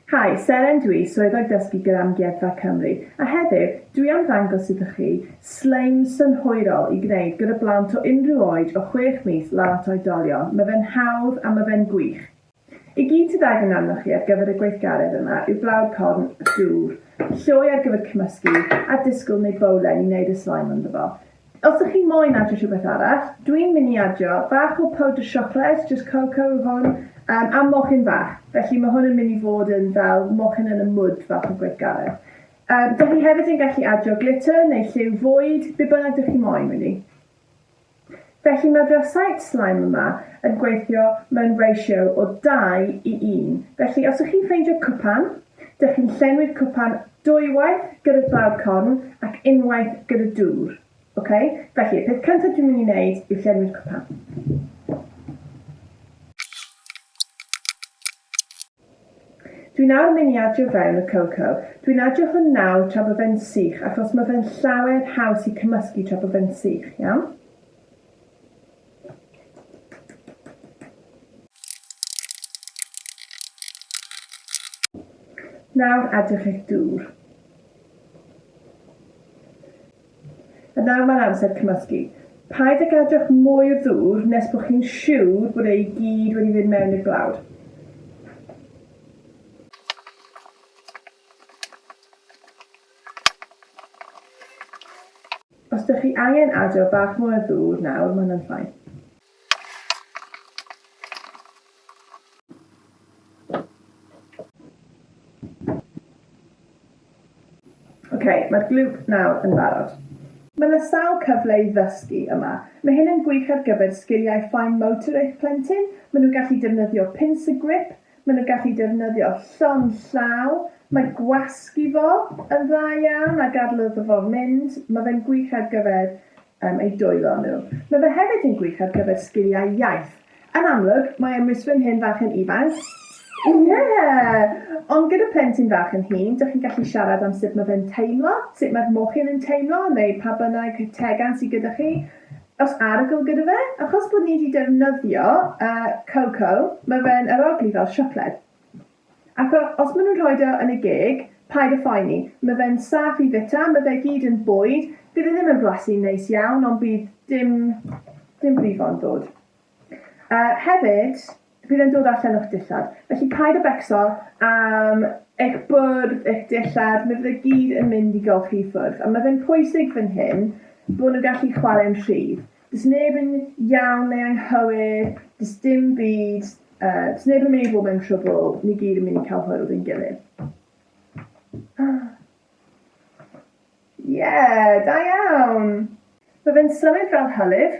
Hi, Seren dw i, Swyddog Dysgu gyda Amgueddfa Cymru, a heddiw, dw i am ddangos iddo chi slime synhwyrol i gwneud gyda blant o unrhyw oed o chwech mis lan at oedolion, ma fe'n hawdd a ma fe'n gwych! I gyd sydd angen arnoch chi ar gyfer y gweithgaredd yma yw blawd corn a dŵr, lloi ar gyfer cymysgu, a disgwyl neu bowlen i wneud y slime ynddo fo. Os dych chi moyn adio rhywbeth arall, dwi'n mynd i adio bach o powdr siocled, jyst cocoa yw hwn, yym a mochyn fach, felly mae hwn yn mynd i fod yn fel mochyn yn y mwd fath o gweithgaredd. Yym dych chi hefyd yn gallu adio glitter neu lliw fwyd, be bynnag dych chi moyn rili. Felly mae fy site slime yma yn gweithio mewn ratio o 2 i 1. Felly os ych chi'n ffeindio cwpan, dych chi'n llenwi'r cwpan dwywaith gyda glaw corn ac unwaith gyda dŵr. Ok? Felly, y peth cyntaf dwi'n mynd i wneud yw llenwi'r cwpan. Dwi'n awr myn i adio fewn y coco. Dwi'n adio hwn nawr tra bo fe'n sych achos ma fe'n llawer haws i cymysgu tra bo fe'n sych, iawn? Nawr adiwch eich dŵr. A nawr mae'n amser cymysgu. Paid a gadwch mwy o ddŵr nes bod chi'n siwr bod e i gyd wedi mynd mewn i'r blawd. Os dych chi angen adio bach mwy o ddŵr nawr, mae hwnna'n fine. Ocê, mae'r glwb nawr yn barod. Mae 'na sawl cyfle i ddysgu yma. Mae hyn yn gwych ar gyfer sgiliau fine motor eich plentyn, maen nhw'n gallu defnyddio pins y gwip, Maen nhw'n gallu defnyddio llond llaw. Mae gwasgu fo yn dda iawn a gadael iddo fo mynd. Mae fe'n gwych ar gyfer um, eu dwylo nhw. Mae fe hefyd yn gwych ar gyfer sgiliau iaith. Yn amlwg, mae ymwisrwyn hen fach yn ifanc. Ie! Yeah! Ond gyda plentyn fach yn hŷn, dych chi'n gallu siarad am sut mae fe'n teimlo, sut mae'r mochyn yn teimlo, neu pa bynnag tegan sydd gyda chi. Oes arogl gyda fe? Achos bod ni 'di defnyddio yy coco, ma' fe'n arogli fel siocled. Ac o- os ma' nhw'n rhoid o yn y geg, paid â phoeni. Ma' fe'n saff i fita, ma' fe gyd yn bwyd, bydd e ddim yn blasu'n neis iawn ond bydd dim dim brifo yn ddod. Yy hefyd, bydd e'n dod â llennwch dillad, felly paid â becso am eich bwrdd, eich dillad, mi fydd e gyd yn mynd i golchi i ffwrdd, ond mae fe'n pwysig fan hyn bod nhw'n gallu chwarae'n rhydd. Does neb yn iawn neu anghywir, does dim byd, yy, does neb yn mynd i fod mewn trwbl, ni gyd yn mynd i cael hwyl ein gilydd. Ie, da iawn! Mae fe'n symud fel hylif.